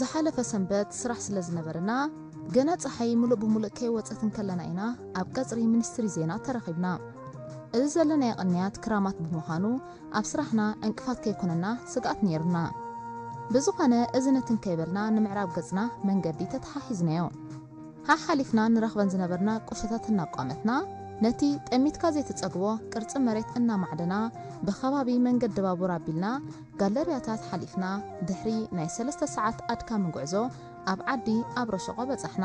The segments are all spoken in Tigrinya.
ዝሓለፈ ሰንበት ስራሕ ስለ ዝነበረና ገና ጸሓይ ምሉእ ብምሉእ ከይወጸት እንከለና ኢና ኣብ ቀጽሪ ሚኒስትሪ ዜና ተራኺብና። እዚ ዘለናዮ ቅንያት ክራማት ብምዃኑ ኣብ ስራሕና ዕንቅፋት ከይኮነና ስግኣት ነይሩና። ብዝኾነ እዚ ነቲ እንከይበልና ንምዕራብ ገጽና መንገዲ ተተሓሒዝናዮ። ሓሓሊፍና ንረኽበን ዝነበርና ቁሸታት እናቋመትና፣ ነቲ ጠሚትካ ዘይትጸግቦ ቅርጺ መሬት እናማዕደና፣ ብከባቢ መንገዲ ባቡር ኣቢልና ጋለርያታት ሓሊፍና፣ ድሕሪ ናይ ሰለስተ ሰዓት ኣድካሚ ጉዕዞ ኣብ ዓዲ ኣብረሸቆ በጻሕና።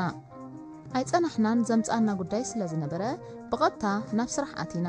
ኣይጸናሕናን ዘምጽኣና ጉዳይ ስለዝነበረ ብቐጥታ ናብ ስራሕ ኣቲና።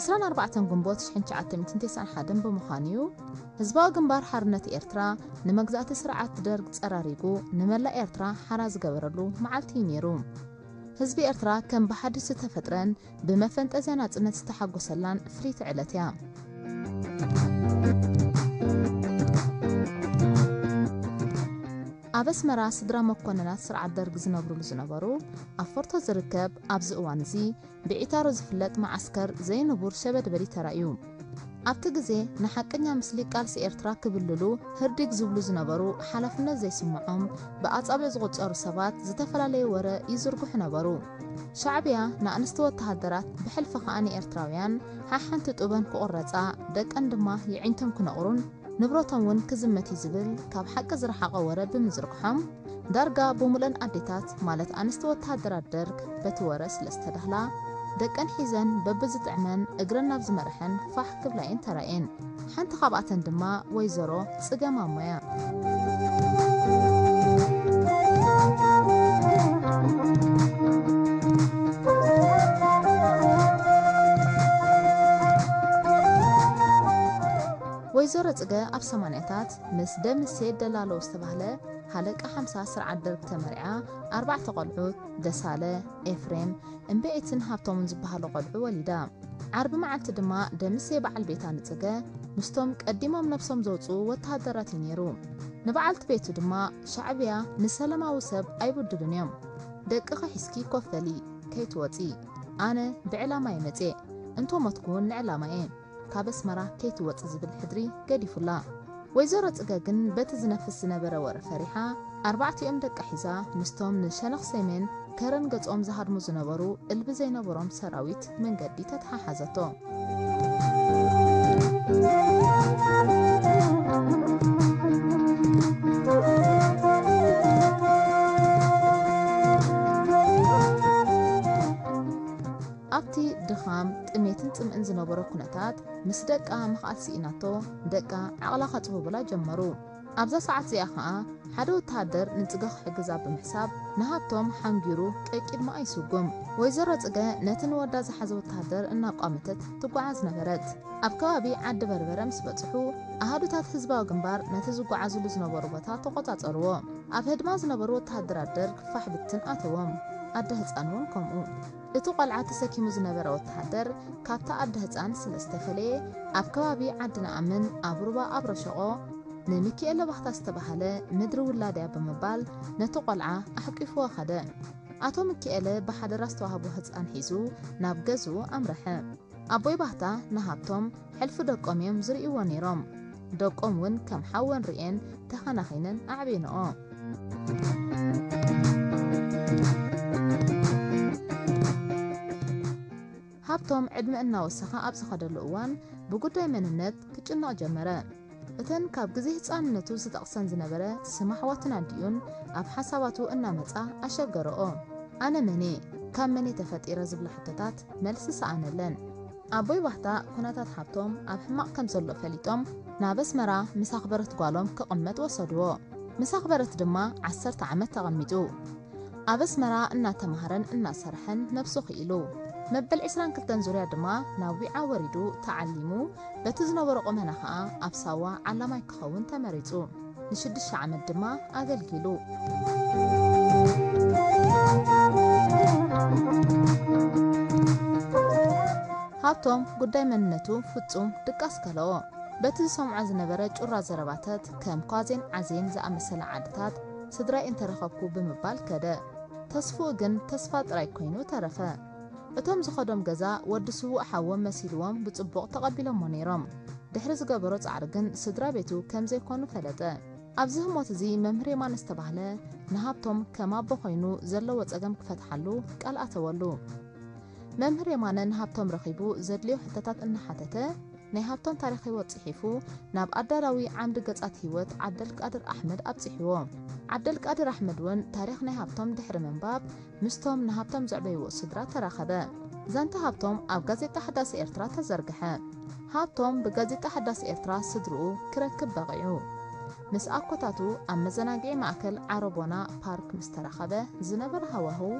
ዕስራን ኣርባዕተን ግንቦት ሽሕን ትሽዓተ ሚእትን ቴስዓን ሓደን ብምዃን እዩ ህዝባዊ ግንባር ሓርነት ኤርትራ ንመግዛእቲ ስርዓት ደርግ ጸራሪጉ ንመላእ ኤርትራ ሓራ ዝገበረሉ መዓልቲ እዩ ነይሩ። ህዝቢ ኤርትራ ከም ብሓድሽ ዝተፈጥረን ብመፈንጠዝያ ናጽነት ዝተሓጎሰላን ፍልይቲ ዕለት እያ። ኣብ ኣስመራ ስድራ መኮነናት ስርዓት ደርግ ዝነብሩሉ ዝነበሩ ኣብ ፎርቶ ዝርከብ ኣብዚ እዋን እዚ ብዒታሮ ዝፍለጥ መዓስከር ዘይንቡር ሸበድበዲ ተራእዩ። ኣብቲ ግዜ ንሓቀኛ ምስሊ ቃልሲ ኤርትራ ክብልሉ ህርዲግ ዝብሉ ዝነበሩ ሓላፍነት ዘይስምዖም ብኣጻብዕ ዝቑጸሩ ሰባት ዝተፈላለየ ወረ ይዝርግሑ ነበሩ። ሻዕብያ ንኣንስቲ ወተሃደራት ብሕልፊ ከኣ ንኤርትራውያን ሓሓንቲ ጡበን ክቑረጻ ደቀን ድማ የዒንቶም ክነቑሩን፣ ንብረቶም ውን ክዝመት እዩ ዝብል ካብ ሓቂ ዝረሓቐ ወረ ብምዝርግሖም ዳርጋ ብሙሉኤን ኣዴታት ማለት ኣንስቲ ወተሃደራት ደርግ በቲ ወረ ስለ ዝተዳህላ ደቀን ሒዘን በብዝጥዕመን እግረን ናብ ዝመረሐን ፋሕ ክብላ እየን ተራእየን። ሓንቲ ካብኣተን ድማ ወይዘሮ ፅገ ማሞ እያ። ወይዘሮ ጽገ ኣብ ሰማንያታት ምስ ደምሴ ደላሎ ዝተባህለ ሃለቃ ሓምሳ ስርዓት ደርግ ተመሪዓ ኣርባዕተ ቆልዑት ደሳለ፣ ኤፍሬም፣ እምበኤትን ሃብቶምን ዝበሃሉ ቆልዑ ወሊዳ። ዓርቢ መዓልቲ ድማ ደምሴ በዓል ቤታ ንጽገ ምስቶም ቀዲሞም ነብሶም ዘውጽኡ ወተሃደራት እዩ ነይሩ። ንበዓልቲ ቤቱ ድማ ሻዕብያ ንሰለማዊ ሰብ ኣይብድሉን እዮም፣ ደቅኺ ሒዝኪ ኮፍ በሊ ከይትወጺ፣ ኣነ ብዕላማ እየ መጽየ፣ እንተሞትኩ ውን ንዕላማ እየ፣ ካብ ኣስመራ ከይትወጺ ዝብል ሕድሪ ገዲፉላ። ወይዘሮ ጽገ ግን በቲ ዝነፍስ ዝነበረ ወረ ፈሪሓ ኣርባዕቲኦም ደቃ ሒዛ ምስቶም ንሸነኽ ሰሜን ከረን ገጾም ዝሃድሙ ዝነበሩ እልቢ ዘይነበሮም ሰራዊት መንገዲ ተተሓሓዘቶ። ኣብቲ ድኻም፣ ጥሜትን ጽምእን ዝነበሮ ኩነታት፣ ምስ ደቃ ምኽኣል ስኢናቶ፣ ደቃ ዓቕላ ከጽብቡላ ጀመሩ። ኣብዛ ሰዓት እዚኣ ከኣ፣ ሓደ ወተሃደር ንጽገ ክሕግዛ ብምሕሳብ፣ ንሃብቶም ሓንጊሩ ቀቂድማኣ ይስጉም። ወይዘሮ ጽገ ነቲ ንወዳ ዝሓዘ ወተሃደር እናቋመተት ትጓዓዝ ነበረት። ኣብ ከባቢ ዓዲ በርበረ ምስ በጽሑ፣ ኣሃዱታት ህዝባዊ ግንባር ነቲ ዝጓዓዙሉ ዝነበሩ ቦታ ተቖጻጸሩዎ። ኣብ ህድማ ዝነበሩ ወተሃደራት ደርግ ፋሕ ብትን ኣተዎም። ኣደ ህጻን'ውን ከምኡ። እቲ ቆልዓ ተሰኪሙ ዝነበረ ወተሃደር ካብቲ ኣደ ህጻን ስለ ዝተፈለየ ኣብ ከባቢ ዓዲ ንኣምን ኣብ ሩባ ኣብረሸቖ ንሚኪኤለ ባህታ ዝተባህለ ምድሪ ውላድያ ብምባል ነቲ ቆልዓ ኣሕቂፍዎ ከደ። ኣቶ ሚኪኤለ ብሓደራ ዝተዋህቦ ህጻን ሒዙ ናብ ገዝኡ ኣምረሐ። ኣቦይ ባህታ ንሃብቶም ሕልፊ ደቆም እዮም ዝርእይዎ ነይሮም። ደቆም እውን ከም ሓወን ርእየን ተኸናኺነን ኣዕብየንኦ። ሃብቶም ዕድመ እናወሰኸ ኣብ ዝኸደሉ እዋን ብጉዳይ መንነት ክጭነቕ ጀመረ። እተን ካብ ግዜ ህጻንነቱ ዝጠቕሰን ዝነበረ ስም ኣሕዋቱን ኣዲኡን ኣብ ሓሳባቱ እናመጻ ኣሸገርኦ። ኣነ መን'የ? ካብ መን'የ ተፈጢረ? ዝብላ ሕቶታት መልሲ ሰኣነለን። ኣቦይ ባህታ ኩነታት ሓብቶም ኣብ ሕማቕ ከም ዘሎ ፈሊጦም ናብ ኣስመራ ምስ ኣኽበረት ጓሎም ክቕመጥ ወሰድዎ። ምስ ኣኽበረት ድማ ዓሰርተ ዓመት ተቐሚጡ። ኣብ ኣስመራ እናተማህረን እናሰርሐን ነብሱ ክኢሉ። መበል ዕስራን ክልተን ዙርያ ድማ ናብ ዊዓ ወሪዱ ተዓሊሙ፣ በቲ ዝነበሮ ቁመና ከኣ ኣብ ሳዋ ዓላማይ ክኸውን ተመሪጹ። ንሽዱሽተ ዓመት ድማ ኣገልጊሉ። ሃብቶም ጉዳይ መንነቱ ፍጹም ድቃስ ከለኦ። በቲ ዝሰምዖ ዝነበረ ጩራ ዘረባተት ከም ኳዜን ዓዜን ዝኣመሰላ ዓድታት፣ ስድራይ እንተረኸብኩ ብምባል ከደ። ተስፍኡ ግን ተስፋ ጥራይ ኮይኑ ተረፈ። እቶም ዝኸዶም ገዛ ወዲ ስዉእ ሓዎም መሲልዎም ብጽቡቕ ተቐቢሎሞ ነይሮም። ድሕሪ ዝገበሮ ጻዕሪ ግን ስድራ ቤቱ ከም ዘይኮኑ ፈለጠ። ኣብዚ ህሞት እዚ መምህር የማነ ዝተባህለ ንሃብቶም ከም ኣቦ ኮይኑ ዘለዎ ጸገም ክፈትሓሉ ቃል ኣተወሉ። መምህር የማነ ንሃብቶም ረኺቡ ዘድልዮ ሕቶታት እናሓተተ፣ ናይ ሃብታም ታሪኽ ህይወት ጽሒፉ ናብ ኣዳላዊ ዓምዲ ገጻት ህይወት ዓብደልቃድር ኣሕመድ ኣብጺሕዎ። ዓብደልቃድር ኣሕመድ'ውን ታሪኽ ናይ ሃብቶም ድሕሪ ምንባብ ምስቶም ንሃብቶም ዘዕበይዎ ስድራ ተራኸበ። ዛንታ ሃብቶም ኣብ ጋዜጣ ሓዳስ ኤርትራ ተዘርግሐ። ሃብቶም ብጋዜጣ ሓዳስ ኤርትራ ስድርኡ ክረክብ በቒዑ። ምስ ኣኮታቱ ኣብ መዘናግዒ ማእከል ዓረቦና ፓርክ ምስ ተራኸበ ዝነበረ ሃዋህው፣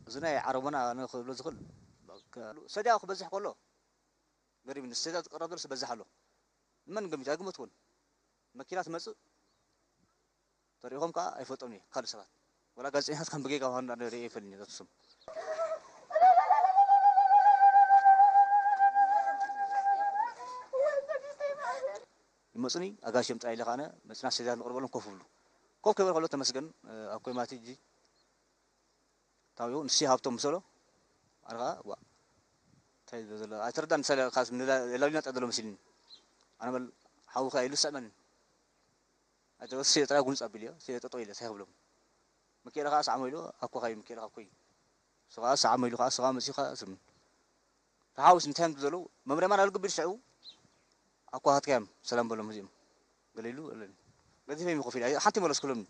እዚ ናይ ዓረቦና ኣነ ክብሎ ዝኽል በቃ ሰድያኡ ክበዝሕ ከሎ ገሪሙኒ ሰድያኡ ዝቅረብ ዘሎ ይበዝሕ ኣሎ ንመን ገሚቱ ኣይገመትኩዎን መኪና ትመጽእ ተሪኢኾም ከኣ ኣይፈልጦምን እየ ካልእ ሰባት ወላ ጋዜጠኛታት ከም ብጌጋ ምዃኑ ኣነ ርእየ ኣይፈልጥን እየ ነቲ ስም ይመጹኒ ኣጋይሽ እዮም ጥራይ ኢለ ከኣ ኣነ መጺና ሰድያታት ንቅርበሎም ኮፍ ይብሉ ኮፍ ከይበሉ ከሎ ተመስገን ኣብ ኮይ ማቲ ሕጂ ታዩ ንሺ ሃብቶም ምሰሎ ኣነ ከኣ ዋእ እንታይ ዝብል ዘሎ ኣይተረዳን ምሳሌ ካስ የላልዩና ጥራይ ዘሎ መሲልኒ ኣነ በል ሓዊ ከኣ ኢሉ ስዕመኒ ኣይተ ወስ ሲዮ ጥራይ ጉንጽ ኣቢልዮ ሲዮ ጠጠው ኢለ እንታይ ክብሎም ምኪኤለ ከኣ ሰዓሞ ኢሉ ኣኮ ካዩ ምኪኤለ ከኣ ኮዩ እሱ ከኣ ሰዓሞ ኢሉ ከኣ እሱ ከኣ መጺኡ ከኣ ስም ተሓዊስ እንታይ እዮም ዘለዉ መምርያ ማን ኣልግቢሉ ሽዑ ኣኮ ሃትካዮም ሰላም በሎም እዚኦም ገለ ኢሉ ገዚፈ ይመ ኮፍ ኢለ ሓንቲ መለስኩሎምኒ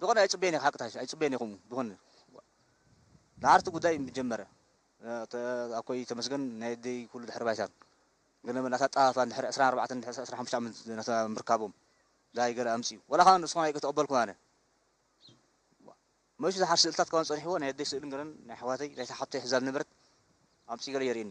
ዝኮነ ኣይጽበየን ኢየ ሓቅታሽ ኣይጽበየን ኢየ ከምኡ ዝኮነ ድሓር እቲ ጉዳይ ምጀመረ ኣኮይ ተመስገን ናይ ኣደይ ኩሉ ድሕሪ ባይታ ገለ መለ ኣታጣፋ ድሕሪ ዕስራን ኣርባዕተን ድሕሪ ዕስራን ሓሙሽተ ዓመት ናታ ምርካቦም ዳይ ገለ ኣምጽኡ ወላ ካኣ ንስኩም ኣይተቀበልኩን ኣነ መሹ ድሓር ስእልታት ካባን ጸኒሕዎ ናይ ኣደይ ስእልን ገለን ናይ ኣሕዋተይ ናይታ ሓብተይ ሕዛ ዝነበረት ኣምጽኡ ገለ የርእየኒ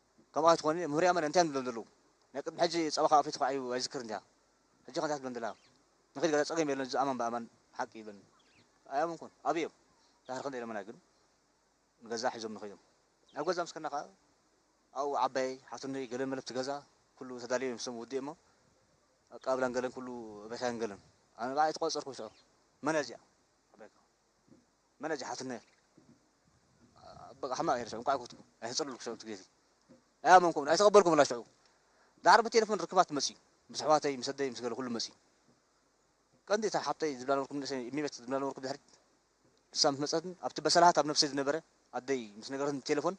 ከምኡ ኣይትኾኒ ምህርያ መን እንታይ ንብሎም ዘለዉ ናይ ቅድሚ ሕጂ ጸባ ካብ ኣፈይ ተዃዒቡ ኣይዝክርን ድያ ሕጂኸ እንታይ ክትብሎም ደላ ንኺድ ገለ ጸገም የለን እዚ ኣማን ብኣማን ሓቂ ይብለኒ ኣይኣመንኩን ኣበይ እዮም ዳሕር ክንደይ ለመና ግን ንገዛ ሒዞም ንኸዮም ኣብ ገዛ ምስ ከና ከኣ ኣብኡ ዓባየይ ሓትኖይ ገለ መለብቲ ገዛ ኩሉ ተዳልዮ እዮም ስም ውድእ እሞ ኣቀባብላን ገለን ኩሉ ቤታየን ገለን ኣነ በዓል ኣይተቆጸርኩ ሽዑ መን እያ እዚኣ መን ኣጂ ሓትኖ በቃ ሕማቅ እየ ሽዑ እንቋዕ ኮትኩ ኣይተጸለልኩ ሽዑ እቲ ግዜ ናይ ኣመንኩም ኣይተቀበልኩምላ ሽዑ ዳሕር ብቴሌፎን ርክባት መጽዩ ምስ ኣሕዋተይ ምስ ኣደይ ምስ ገለ ኩሉ መጽዩ ቀንዲ እታ ሓብተይ ዝብላ ነበርኩም ንእሰይ እሚበት ዝብላ ነበርኩም ድሕሪት ንሳ ምስ መጸትን ኣብቲ በሰላሃት ኣብ ነብሰይ ዝነበረ ኣደይ ምስ ነገረትን ብቴሌፎን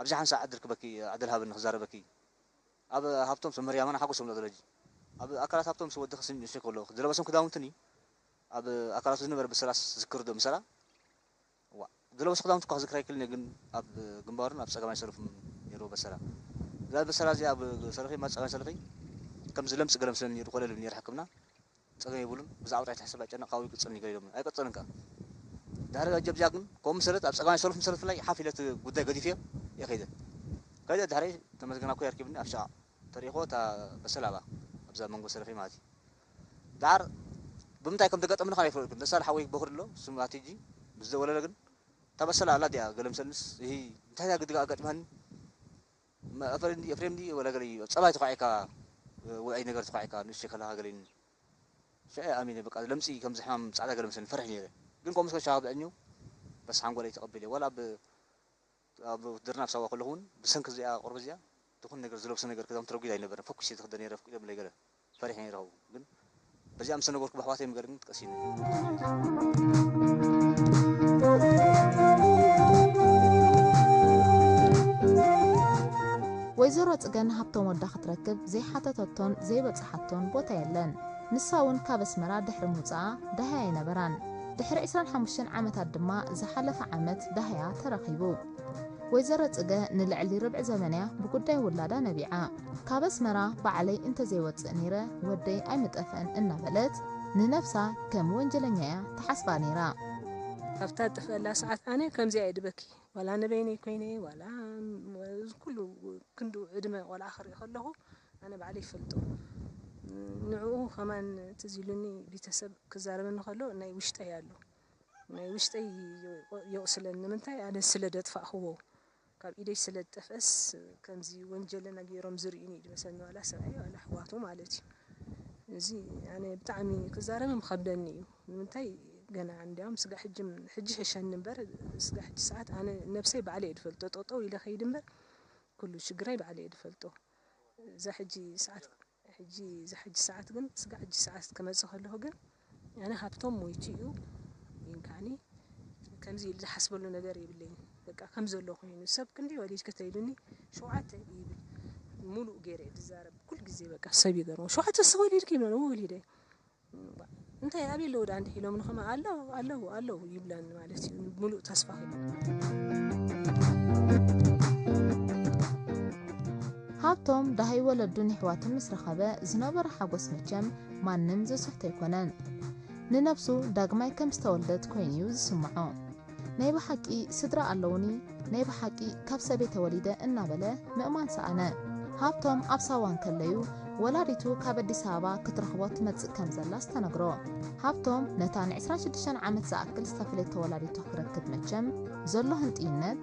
ኣብዚ ሓንሳእ ዕድል ክበኪ ዕድል ሃበኒ ክዛረበኪ ኣብ ሃብቶም ሰመርያማና ሓጎሶም ዶ ዘለጂ ኣብ ኣካላት ሃብቶም ምስ ወድኺ ስንጭ ከሎ ዝለበሶም ክዳውንትን እዩ ኣብ ኣካላቱ ዝነበረ ብሰላስ ዝክርዶ ምሰላ ዋእ ዝለበሶ ክዳውንቲ እኳ ክዝክር ኣይክልን እየ ግን ኣብ ግንባሩን ኣብ ጸጋማይ ሰለፉን ነይርዎ በሰላ እዛ በሰላ እዚኣ ኣብ ሰለፈይ ማት ጸጋማይ ሰለፈይ ከምዚ ለምጽ ገለ ምስለኒ ነይሩ ኮለል ይብል ነይረ ሕክምና ጸገም የብሉን ብዛዕባ ጥራይ ትሕሰብ ኣይጨነቅ ካውኡ ይቅጽል እዩ ገለ ኢሎምኒ ኣይቀጸለን ከኣ ድሕሪ ሕጂ ኣብዚኣ ግን ከምኡ ምሰለት ኣብ ጸጋማይ ሰለፉ ምሰለት ፍላይ ሓፍ ኢለ እቲ ጉዳይ ገዲፈዮ እየ ከይደ ከይደ ድሕረይ ተመስገን ኣኮይ ኣርኪብኒ ኣብ ሸቓቕ ተሪእክዎ እታ በሰላ ኣብኣ ኣብዛ መንጎ ሰለፈይ ማለት እዩ ደሓር ብምንታይ ከም ተገጠምኒ ከማይ ይፍረድኩም ደሳለ ሓወይ ቦኽሪ ኣሎ ስም ኣቲጂ ምስ ደወለለ ግን እታ በሰላ ኣላ ዲኣ ገለ ምስ ኣልምስ እሂ እንታይ እያ ግዲ ኣጋጢማኒ እም ኣፈሪም ድዩ ኤፍሬም ድዩ ወላ ገለ እዩ ኣብ ጸባይ ተኳዒካ ወይ ኣይ ነገር ተኳዒካ ንእሽተይ ከለኻ ገለ ኢልኒ ሽዑ እየ ኣሚነ በቃ ለምጺ ከምዚ ሕማም ጻዕዳ ገለ መስለኒ ፈሪሕ ኔረ ግን ከምኡ ምስ ኮነ ሻባ ብዕድሜኡ በስ ሓንጎለይ ተቐቢለዮ ዋላ ኣብ ኣብ ውትድርና ኣብ ሳዋ ከለኹ ውን ብሰንኪ እዚኣ ቆርበት እዚኣ ድኹን ነገር ዝለብሶ ነገር ክዳውንቲ ረጒድ ኣይነበረን ፈኲሰ እየ ዝኽደን ነይረ ኣፍቂዶምለይ ገለ ፈሪሐ ነይረ ካብኡ ግን በዚኣ ምስ ተነገርኩ ብኣሕዋተይ ምገር ግን ቀሲኑ ወይዘሮ ጽገን ሃብቶም ወዳ ክትረክብ ዘይሓተተቶን ዘይበጽሓቶን ቦታ የለን። ንሳ እውን ካብ ኣስመራ ድሕሪ ምውጽኣ ደሃይ ኣይነበራን። ድሕሪ ዕስራን ሓሙሽተን ዓመታት ድማ ዝሓለፈ ዓመት ዳህያ ተረኺቡ። ወይዘሮ ጽገ ንልዕሊ ርብዒ ዘመን'ያ ብጉዳይ ውላዳ ነቢዓ። ካብ ኣስመራ ባዕለይ እንተዘይወጽእ ነይረ ወደይ ኣይምጠፍአን እናበለት ንነብሳ ከም ወንጀለኛ'ያ ትሓስባ ነይራ። ኣብታ ዝጠፍኣላ ሰዓት ኣነ ከምዚኣ'የ ድበኪ። ዋላ ንበይነይ ኮይነ ዋላ እዚ ኩሉ ክንድኡ ዕድመ ቆልዓ ክርኢ ከለኹ ኣነ ባዕለይ ይፈልጦ ንዑኡ ከማን ትዝ ኢሉኒ ቢተሰብ ክዛረበኒ ከሎ ናይ ውሽጠይ ኣሎ ናይ ውሽጠይ የቁስለኒ ንምንታይ ኣነ ስለ ደጥፋእክዎ ካብ ኢደይ ስለ ዝጠፍእስ ከምዚ ወንጀለና ጌሮም ዝርኡኒ እዩ ድመስለኒ ዋላ ሰብኣየይ ዋላ ኣሕዋቱ ማለት እዩ እዚ ኣነ ብጣዕሚ ክዛረብም ይከብደኒ እዩ ንምንታይ ገና እንዲያውም ስጋ ሕጂ ሕጂ ሕሸኒ እምበር ስጋ ሕጂ ሰዓት ኣነ ነብሰይ ባዕለይ እየ ዝፈልጦ ጠጠው ኢለ ከይድ እምበር ኩሉ ሽግራይ ባዕለይ እየ ዝፈልጦ እዛ ሕጂ ሰዓት ሕጂ እዛ ሕጂ ሰዓት ግን ስጋዕ ሕጂ ሰዓት ክመጽእ ከለኩ ግን ኣነ ሃብቶም ሞይቱ እዩ ይንካኒ ከምዚ ኢሉ ዝሓስበሉ ነገር የብለይን በቃ ከም ዘሎ ኮይኑ ሰብ ክንደይ ወሊድኪ ተኢሉኒ ሸውዓተ ይብል ሙሉእ ገይረ ድዛረብ ኩል ግዜ በቃ ሰብ ይገርሞ ሸውዓተ ሰወሊድኪ ይብለኒ ወሊደ እንታይ ኣበይ ኣለዉ ደኣ እንድዒ ኢሎምኒ ከማን ኣሎ ኣለዉ ኣለዉ ይብላኒ ማለት እዩ ሙሉእ ተስፋ ሃብቶም ዳሃይ ወለዱን የሕዋቱን ምስ ረኸበ ዝነበሮ ሓጎስ መቸም ማንም ዝስሕቶ ኣይኮነን ንነብሱ ዳግማይ ከም ዝተወልደት ኮይኑ'ዩ ዝስምዖ ናይ ብሓቂ ስድራ ኣለዉኒ፣ ናይ ብሓቂ ካብ ሰበይ ተወሊደ እናበለ ምእማን ሰኣነ። ሃብቶም ኣብ ሳዋ እንከለዩ ወላዲቱ ካብ ኣዲስ ኣበባ ክትረኽቦ ትመጽእ ከም ዘላስ ተነግሮ። ሃብቶም ነታ ን ዕስራን ሽዱሽተን ዓመት ዝኣክል ዝተፈለየቶ ወላዲቱ ክረክብ መቸም ዘሎ ህንጥይነት፣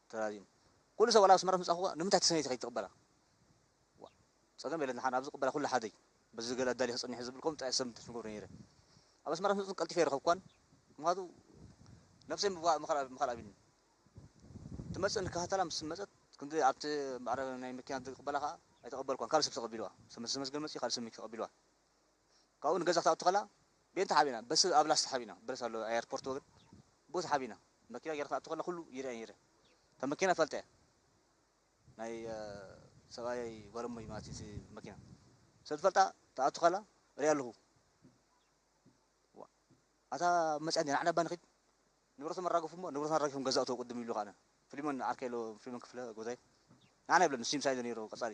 ተራዚኑ ኩሉ ሰብ ዋላ ኣስመራ ምስ መጻኹ ንምንታይ ተሰነይቲ ከይድ ትቅበላ ዋእ ጸገም የለን ንሓን ኣብዚ ቅበላ ኩሉ ሓደይ በዚ ዝገለ ኣዳሊኺ ጽኒሒ ዝብል ኮምንት ኣይ ኣሰምትን ትብሎ ነይረ ኣብ ኣስመራ ምስ መጹ ቀልጢፈ ኣይረኸብኳን ምኽንያቱ ነብሰይ ምብቃዕ ምኽኣል ምኽኣል ኣቢኒ ትመጽእ ንከታተላ ምስ መጸት ክንዲ ኣብቲ ማዕረ ናይ መኪና ዝቅበላ ከኣ ኣይተቀበልኳን ካልእ ሰብ ተቀቢልዋ ሰብ መሰመስገን መጽዩ ካልእ ሰብ መኪ ተቀቢልዋ ካብኡ ንገዛ ክትኣቱ ከላ ቤንታ ሓቢና በሲ ኣብ ላስታ ሓቢና ብረት ኣሎ ኣይ ኣርፖርት ወግን ቦቲ ሓቢና መኪና ጌራ ክትኣቱ ከላ ኩሉ ይርኣ ነይረ እታ መኪና ፈልጠያ ናይ ሰብኣየይ ጓል እሞይ ማለት እቲ መኪና ሰብ ዝፈልጣ ትኣቱ ከላ ሪኣ ኣለኹ ኣታ መፅያ እንዲና ንዓና እባ ንኺድ ንብረቶም ኣራገፉ እሞ ንብረቶም ኣራጊፎም ገዛ እተው ቅድም ይብሉ ከዓነ ፍሊሞን ዓርከይ ኣሎ ፍሊሞን ክፍለ ጎዛይ ንዓና ይብለን ንሱ ምሳይ ዘሎ ነይሩ ቀፃሊ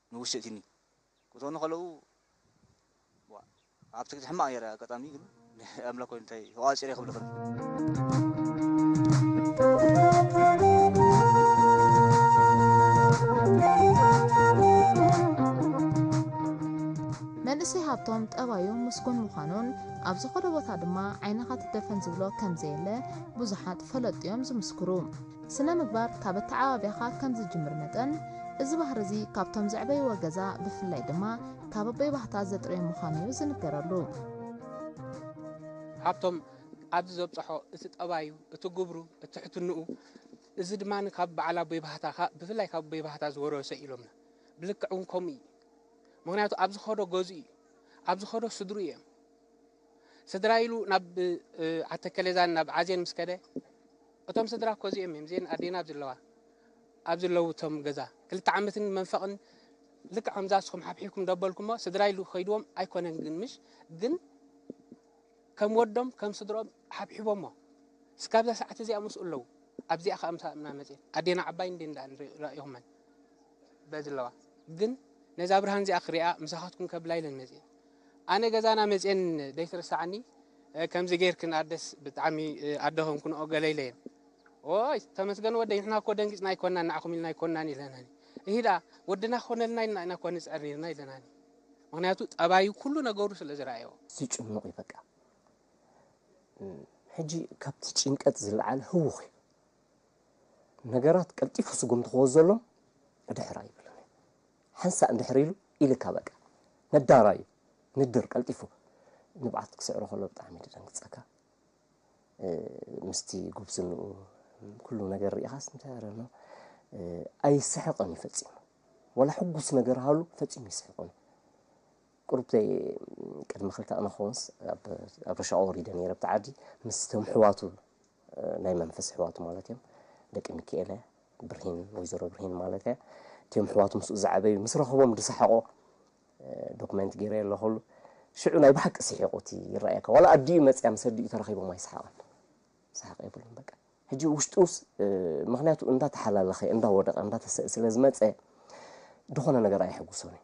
ንውሽጢ'ቲኒ ክትወኑ ከለዉ ዋእ ኣብ ትግዲ ሕማቅ ኔረ ኣጋጣሚ ግን ናይ ኣምላክ ኮይኑ እንታይ ተቋጺረ ክብለክን። መንእሰይ ሃብቶም ጠባዩ ምስጉን ምዃኑን ኣብ ዝኸዶ ቦታ ድማ ዓይንኻ ትደፈን ዝብሎ ከምዘየለ ብዙሓት ፈለጥቲ'ዮም ዝምስክሩ። ስነ ምግባር ካብ ኣተዓባብያኻ ከም ዝጅምር መጠን፣ እዚ ባህሪ እዚ ካብቶም ዘዕበይዎ ገዛ ብፍላይ ድማ ካብ ኣቦይ ባህታ ዘጥርዮ ምዃኑ እዩ ዝንገረሉ። ሃብቶም ኣብዚ ዘብጸሖ እቲ ጠባዩ፣ እቲ ግብሩ፣ እቲ ትሕትንኡ፣ እዚ ድማ ካብ በዓል ኣቦይ ባህታ ካብ ብፍላይ ካብ ኣቦይ ባህታ ዝወረሶ እዩ ኢሎምና። ብልክዕ እውን ከምኡ እዩ። ምኽንያቱ ኣብ ዝኸዶ ገዝኡ እዩ። ኣብ ዝኸዶ ስድርኡ እዮም። ስድራ ኢሉ ናብ ዓተከሌዛን ናብ ዓዜን ምስ ከደ እቶም ስድራ እኮ እዚኦም እዮም እዚኤን ኣዴና ኣብ ዝለዋ ኣብ ዝለውቶም ገዛ ክልተ ዓመትን መንፈቕን ልክዕ ከምዛ ንስኹም ሓብሒብኩም ደበልኩሞ ስድራ ኢሉ ከይድዎም ኣይኮነን ግን ምሽ ግን ከም ወዶም ከም ስድሮም ሓብሒቦሞ እስካብዛ ሰዓት እዚኣ ምስኡ ኣለዉ ኣብዚኣ ከዓ ምሳ እምና መፅኤን ኣዴና ዓባይ እንዴ እንዳ ራእኹመን በዝለዋ ግን ነዛ ብርሃን እዚኣ ክሪኣ ምሳኻትኩም ከብላ ኢለን መፅኤን ኣነ ገዛና መጼን ደይትርሳዓኒ ከምዚ ገይርኪ ናርደስ ብጣዕሚ ኣደ ኾንኩንኦ ገለ ኢለየን ኦይ ተመስገን ወደይ ንሕና እኮ ደንጊጽና ኣይኮናን ንዓኹም ኢልና ኣይኮናን ኢለናኒ እሂ ደኣ ወድና ክኾነልና ኢልና ኢና እኳ ንጽዕር ነይርና ኢለናኒ ምክንያቱ ጠባዩ ኩሉ ነገሩ ስለ ዝረኣዮ ዝጭኑቕ እዩ በቃ ሕጂ ካብቲ ጭንቀት ዝለዓለ ህውኽ እዩ ነገራት ቀልጢፉ ስጉምቲ ክወዘሎም ብድሕር ኣይብልን ሓንሳእ እንድሕር ኢሉ ኢልካ በቃ ነዳራይ እዩ ንድር ቀልጢፉ ንብዓት ክስዕሮ ከሎ ብጣዕሚ እዩ ደንግጸካ ምስቲ ጉብዝንኡ ኩሉ ነገር ርኢኻስ እንታይ ኣረኖ ኣይስሕቕን እዩ ፈጺሙ ወላ ሕጉስ ነገር ሃሉ ፈጺሙ ይስሕቕን ቅሩብ ዘይ ቅድሚ ክልተ ኣነኸውንስ ኣብ ረሻ ወሪደ ነይረ ብቲ ዓዲ ምስቶም ሕዋቱ ናይ መንፈስ ሕዋቱ ማለት እዮም ደቂ ሚካኤለ ብርሂን ወይዘሮ ብርሂን ማለት እያ እትም ሕዋቱ ምስኡ ዝዓበዩ ምስ ረኸቦም ድሰሓቖ ዶክመንት ገይረ ኣለኹሉ ሽዑ ናይ ብሓቂ ስሒቑ እቲ ይረኣየካ ዋላ ኣዲኡ መፅያ ምስ ኣዲኡ ተረኺቦም ኣይሰሓቐን ሰሓቕ የብሉን በቃ ሕጂ ውሽጡስ ምክንያቱ እንዳተሓላለኸ እንዳወደቐ እንዳተሰእ ስለ ዝመፀ ዝኾነ ነገር ኣይሕጉሶን እዩ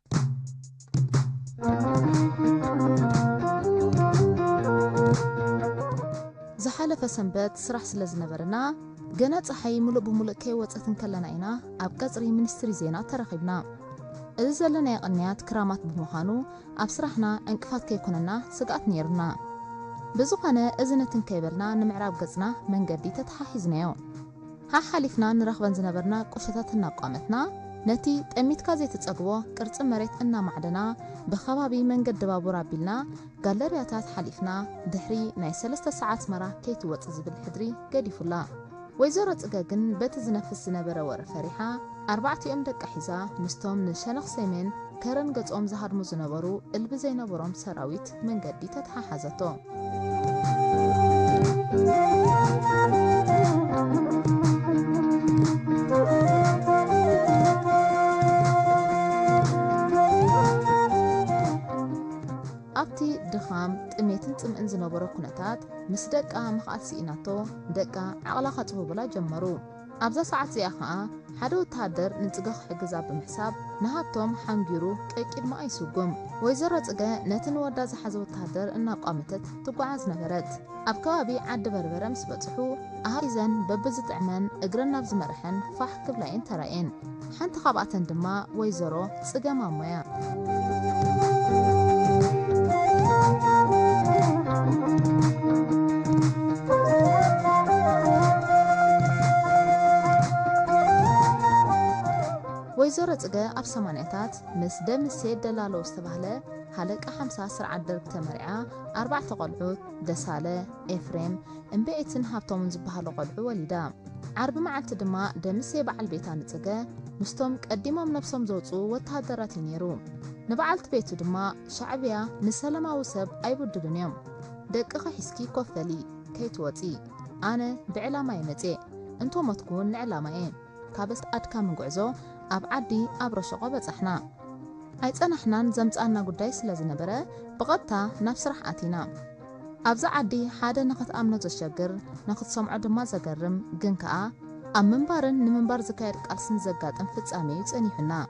ዝሓለፈ ሰንበት ስራሕ ስለ ዝነበረና ገና ፀሓይ ሙሉእ ብሙሉእ ከይወፀት እንከለና ኢና ኣብ ቀፅሪ ሚኒስትሪ ዜና ተራኺብና። እዚ ዘለናዮ ቅንያት ክራማት ብምዃኑ ኣብ ስራሕና ዕንቅፋት ከይኮነና ስግኣት ነይሩና። ብዝኾነ እዚ ነቲ እንከይበልና ንምዕራብ ገፅና መንገዲ ተተሓሒዝናዮ። ሓሓሊፍና ንረኽበን ዝነበርና ቁሸታት እናቋመትና፣ ነቲ ጠሚትካ ዘይትጸግቦ ቅርጺ መሬት እናማዕደና፣ ብከባቢ መንገዲ ባቡር ኣቢልና፣ ጋለርያታት ሓሊፍና፣ ድሕሪ ናይ ሰለስተ ሰዓት ኣስመራ ከይትወጽእ ዝብል ሕድሪ ገዲፉላ። ወይዘሮ ጽገ ግን በቲ ዝነፍስ ዝነበረ ወረ ፈሪሓ፣ ኣርባዕቲኦም ደቃ ሒዛ፣ ምስቶም ንሸነኽ ሰሜን ከረን ገጾም ዝሃድሙ ዝነበሩ እልቢ ዘይነበሮም ሰራዊት፣ መንገዲ ተተሓሓዘቶ። ኣብቲ ድኻም፣ ጥሜትን ጽምእን ዝነበሮ ኩነታት፣ ምስ ደቃ ምኽኣል ስኢናቶ፣ ደቃ ዓቕላ ከጽብቡላ ጀመሩ። ኣብዛ ሰዓት እዚኣ ከኣ ሓደ ወተሃደር ንጽገ ክሕግዛ ብምሕሳብ ንሃብቶም ሓንጊሩ ቀቂድማኣ ይስጉም። ወይዘሮ ጽገ ነቲ ንወዳ ዝሓዘ ወተሃደር እናቋመተት ትጓዓዝ ነበረት። ኣብ ከባቢ ዓዲ በርበረ ምስ በጽሑ ኣሃዱ ሒዘን በብዝጥዕመን እግረን ናብ ዝመረሐን ፋሕ ክብላ እየን ተራእየን። ሓንቲ ካብኣተን ድማ ወይዘሮ ጽገ ማሞ'ያ። ወይዘሮ ጽገ ኣብ ሰማንያታት ምስ ደምሴ ደላሎ ዝተባህለ ሃለቃ ሓምሳ ስርዓት ደርግ ተመርዕያ ኣርባዕተ ቆልዑት፣ ደሳለ፣ ኤፍሬም፣ እምበኤትን ሃብቶምን ዝበሃሉ ቈልዑ ወሊዳ። ዓርቢ መዓልቲ ድማ ደምሴ በዓል ቤታ ንጽገ ምስቶም ቀዲሞም ነብሶም ዘውጽኡ ወተሃደራት እዩ ነይሩ። ንበዓልቲ ቤቱ ድማ፣ ሻዕብያ ንሰለማዊ ሰብ ኣይብድሉን እዮም። ደቅኺ ሒዝኪ ኮፍ በሊ፣ ከይትወጺ። ኣነ ብዕላማ'የ መጺኤ፣ እንተ ሞትኩ'ውን ንዕላማ'የ። ካብስ ኣድካሚ ጉዕዞ ኣብ ዓዲ ኣብረሸቆ በጻሕና። ኣይጸናሕናን ዘምጽኣና ጉዳይ ስለ ዝነበረ ብቐጥታ ናብ ስራሕ ኣቲና። ኣብዚ ዓዲ ሓደ ንኽትኣምኖ ዘሸግር ንኽትሰምዖ ድማ ዘገርም ግን ከኣ ኣብ ምንባርን ንምንባር ዝካየድ ቃልስን ዘጋጥም ፍጻሜ'ዩ ጸኒሑና።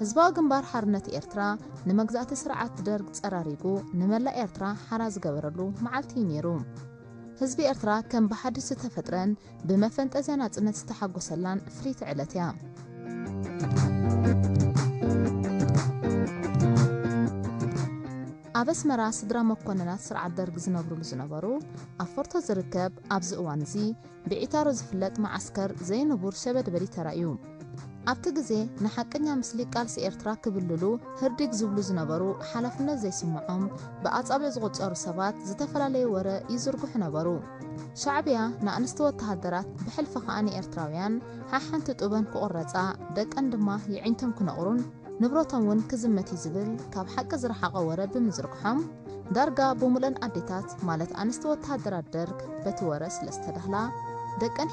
ህዝባዊ ግንባር ሓርነት ኤርትራ ንመግዛእቲ ስርዓት ደርግ ጸራሪጉ ንመላእ ኤርትራ ሓራ ዝገበረሉ መዓልቲ እዩ ነይሩ። ህዝቢ ኤርትራ ከም ብሓድሽ ዝተፈጥረን ብመፈንጠዝያ ናጽነት ዝተሓጎሰላን ፍልይቲ ዕለት እያ። ኣብ ኣስመራ ስድራ መኮንናት ስርዓት ደርግ ዝነብሩሉ ዝነበሩ ኣብ ፎርቶ ዝርከብ ኣብዚ እዋን እዚ ብዒታሮ ዝፍለጥ መዓስከር ዘይንቡር ሸበድበዲ ተራእዩ። ኣብቲ ግዜ ንሓቀኛ ምስሊ ቃልሲ ኤርትራ ክብልሉ ህርዲግ ዝብሉ ዝነበሩ ሓላፍነት ዘይስምዖም ብኣጻብዕ ዝቑጸሩ ሰባት ዝተፈላለየ ወረ ይዝርግሑ ነበሩ። ሻዕብያ ንኣንስቲ ወተሃደራት ብሕልፊ ከኣ ንኤርትራውያን ሓሓንቲ ጡበን ክቑረጻ ደቀን ድማ የዒንቶም ክነቑሩን፣ ንብረቶም ውን ክዝመት እዩ ዝብል ካብ ሓቂ ዝረሓቐ ወረ ብምዝርግሖም ዳርጋ ብሙለን ኣዴታት ማለት ኣንስቲ ወተሃደራት ደርግ በቲ ወረ ስለዝተዳህላ ደቀን